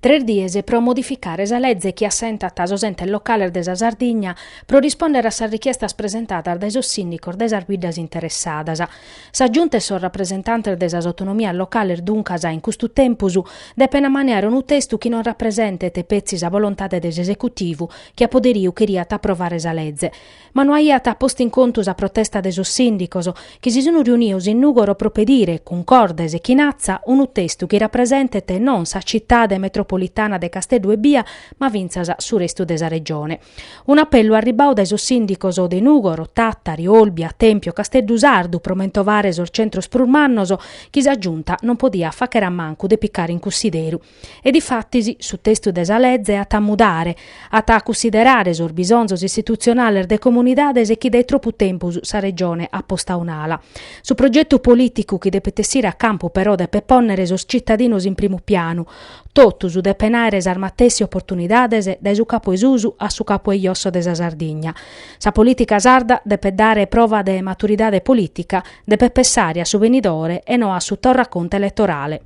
Tres dies pro modificare sa leze chi assentat sos entes locales de sa Sardigna pro rispòndere a sas richiestas presentadas dae sos sìndicos de sas biddas interessadas. Sa Giunta e sos rapresentantes de sas autonomias locales duncas in custu tempus depent ammaniare unu testu chi non rapresentet petzi sa volontade de s'esecutivu chi a poderiu cheriat aprovare sa leze ma no aiat postu in contu sa protesta de sos sìndicos, chi si sun riunidos in Nùgoro pro pedire, cuncordes e chin atza, unu testu chi rapresentet non sa citade metropolitana de Casteddu ebbia, ma fintzas su restu de sa Regione. Un'apellu arribbadu dae sos sìndicos de Nùgoro, Tàtari, Olbia, Tèmpio, Casteddu Sardu, pro mentovare sos centros prus mannos, chi sa Giunta non podiat fàghere a mancu de picare in cussideru. E difatis su testu de sa lege at a mudare, at a cussiderare sos bisonzos istitutzionales de comunidades chi dae tropu tempus sa Regione at postu a un'ala. Su progetu polìticu chi depet essire a campu però depet pònnere sos tzitadinos in primu pianu, totu depent àere sas matessi oportunidades dae su capu 'e susu a su capu 'e josso de sa Sardigna. Sa polìtica sarda depet dare prova de maturidade polìtica, depet pessare a su benidore e no a su torraconte eletorale.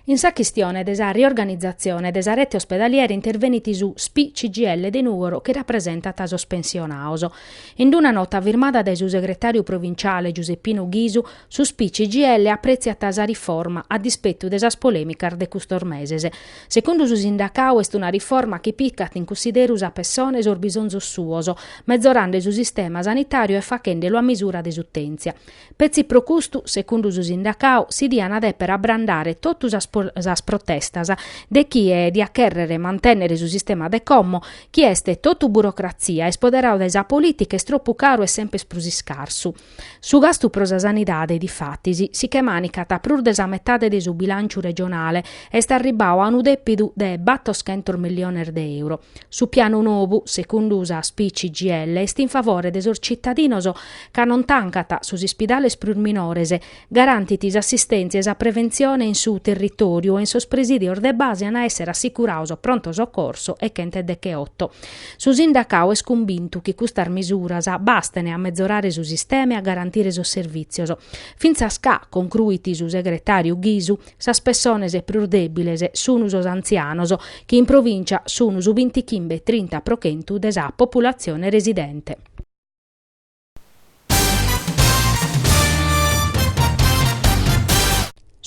In sa chistione de sa riorganizatzione de sa rete ospedaliera intervenit su SPI CGIL de Nùgoro chi rapresentat sos pensionados. In una nota firmada dae su segretàriu provinciale Giuseppinu Ghisu, su SPI CGIL aprètziat sa riforma a dispetu de sas polèmicas de custos meses. Segundu su sindacau est una riforma chi picat in cussideru sa pessone e sos bisonzos suos, mezorande su sistema sanitàriu e faghende-lu a misura de s'utèntzia. Petzi pro custu, segundu su sindacau, si diana dèpere abrandare totu sas protestas de chie diat chèrrere mantènnere su sistema de como, chi est totu burocratzia, est poderau dae sa polìtica, est tropu caru e semper prus iscarsu. Su gastu pro sa sanidade, difatis, si che manicat prus de sa metade de su bilànciu regionale, est arribbadu a unu dèpidu de battoschentos milliones de euro. Su pianu nou, segundu sa SPI CGIL, est in favore de sos tzitadinos ca non tancat sos ispidales prus minores Garantit s'assistèntzia e sa preventzione in su territòriu e in sos presìdios de base an a èssere assicurados pronto socorso e chent'e decheoto. Su sindacadu est cumbintu chi custas misuras basten a mezorare su sistema e a garantire sos servìtzios. Fintzas ca, concruit su segretàriu Ghisu, sas pessones prus dèbiles sun sos antzianos, chi in provìncia sun su bintichimbe e trinta pro chentu de sa populatzione residente.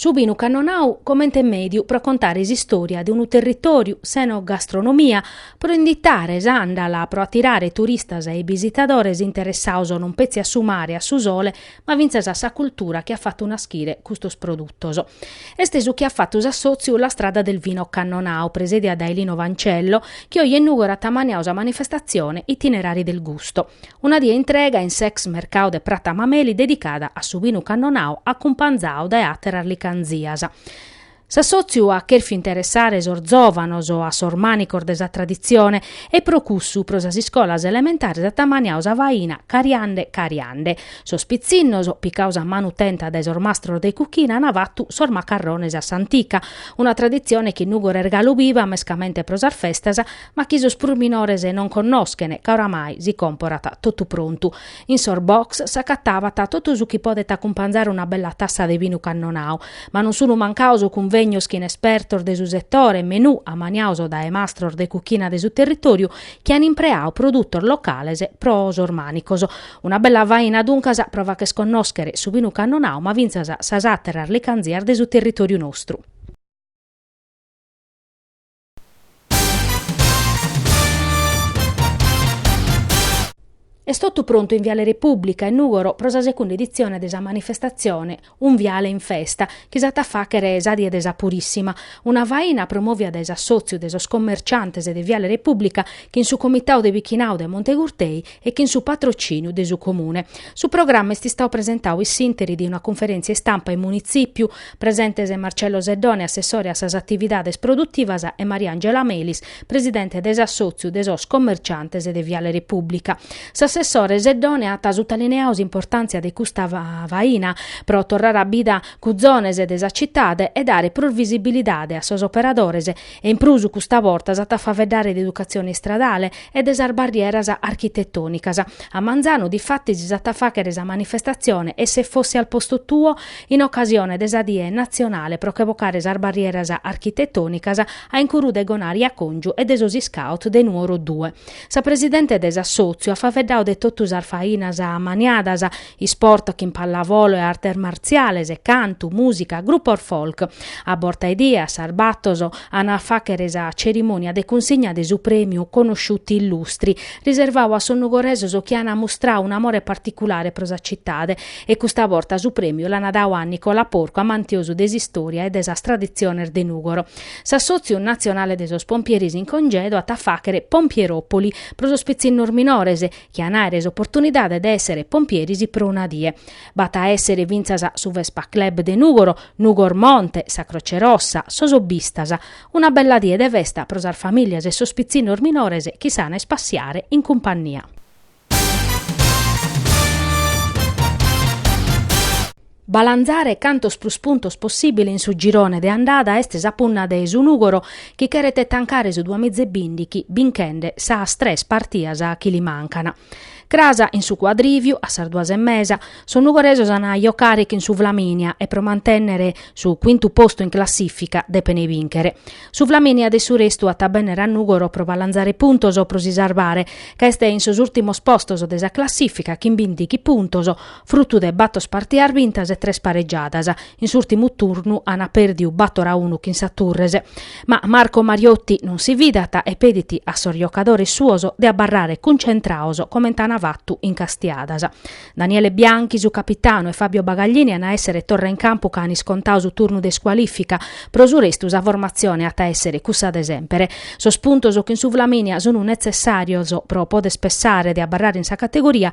Su binu cannonau comente mediu pro contare s'istòria de unu territòriu s'enogastronomia, pro inditare s'àndala, pro atirare turistas e bisitadores interessados non petzi a su mare e a su sole, ma fintzas a sa cultura chi at fatu naschire custos produtos. Est su chi at fatu s'assòtziu La Strada del Vino Cannonau, presèdia dae Lino Fancello, chi oje in Nùgoro at ammaniau sa manifestatzione Itinerari del Gusto. Una die intrega in s'ex mercau de Prata Mameli dedicada a su binu cannonau acumpanzau dae àteras licanzias. S'assòtziu at chèrfiu interessare sos zòvanos a sos mànicos de sa traditzione e pro cussu pro sas iscolas elementares at ammaniau sa faina cariande cariande. Sos pitzinnos, picados a manu tenta dae sos mastros de cuchina an fatu sos macarrones a s'antica, una traditzione chi in Nùgoro est galu biva mescamente pro sas festas, ma chi sos prus minores non connoschen ca oramai si comporat totu prontu. In sos box s'acatabat totu su chi podet acumpanzare una bella tassa de binu cannonau, ma non sun mancados cunvegnos chin espertos de su setore e menù amaniados dae mastros de cuchina de su territòriu chi an impreadu produtos locales pro sos mànicos. Una bella faina duncas pro fagher connòschere su binu cannonau ma fintzas sas àteras licànzias de su territòriu nostru. Est totu prontu in Viale Repùblica, in Nùgoro, pro sa segunda editzione de sa manifestatzione Un viale in festa, chi s'at a fàghere sa die de sa Purìssima. Una faina promòvia dae s'assòtziu de sos commerciantes de Viale Repùblica chin su Comitadu de Bichinadu de Montegurtei e chin su patrocìniu de su Comune. Su programma est istadu presentadu in s'ìnteri de una cunferèntzia istampa in Munitzìpiu, presentes Marcello Seddone, assessore a sas atividades produtivas, e Mariangela Melis, presidente de s'assòtziu de sos commerciantes de Viale Repubblica. S'assessore Seddone at sutalineadu s'importàntzia de custa faina pro torrare a bida cuzones de sa citade e dare prus visibilidade a sos operadores E in prus custa borta s'at a faeddare de educatzione istradale e de sas barrieras architetònicas. A manzanu, difatis, s'at a fàghere sa manifestatzione E se fossi al posto tuo? in ocasione de sa die natzionale pro che bocare sas barrieras architetònicas a incuru de Gonari Còngiu e de sos iscaut de Nuoro Due. Sa presidente de s'assòtziu at faeddadu de totu sas fainas ammaniadas Isport chin pallavolo e artes martziales, cantu, mùsica, grupos folk. A borta 'e die, a sas bator, an a fàghere sa cerimònia de cunsigna de su prèmiu Conosciuti Illustri, riservadu a sos nugoresos chi an ammustradu un'amore particulare pro sa citade. E custa borta su prèmiu l'an dadu a Nicola Porcu, amantiosu de s'istòria e de sas traditziones de Nùgoro. S'Assòtziu natzionale de sos pompieris in congedu at a fàghere Pompieropoli pro sos pitzinnos minores chi an a àere s'oportunidade de èssere pompieris pro una die. B'at a èssere fintzas su Vespa Club de Nùgoro, Nugor Monte, sa Croce Rossa, sos Hobbistas. Una bella die de festa pro sas famìlias e sos pitzinnos minores chi s'an a ispassiare in cumpannia. Balanzare cantos prus puntos possìbile in su girone de andada est sa punna de su Nùgoro chi cheret tancare su duamiza e bìndichi binchende sas tres partias chi li mancan. Cras in su cuadrìviu, a sas duas e mesa, sos nugoresos an a jocare chin su Flaminia e pro mantènnere su cuintu postu in classìfica depen bìnchere. Su Flaminia de su restu at a bènnere a Nùgoro pro balanzare puntos pro si sarbare ca est in sos ùrtimos postos de sa classìfica chin bìndichi puntos Frutu de batos partias bintas e tres paregiadas, in s'ùrtimu turnu ant pèrdiu bator a unu chin sa Turres. Ma Marco Mariotti non si fidat e pedit a sos jocadores suos de abarrare cuncentraos comente ant fatu in Castiadas. Daniele Bianchi, su capitanu e Fabio Bagaglini ant a èssere torra in campu ca ant iscontau su turnu de iscualìfica. Pro su restu sa formatzione at a èssere cussa de semper. Sos puntos chin su Flaminia sunt netzessàrios pro poder pessare de abarrare in sa categoria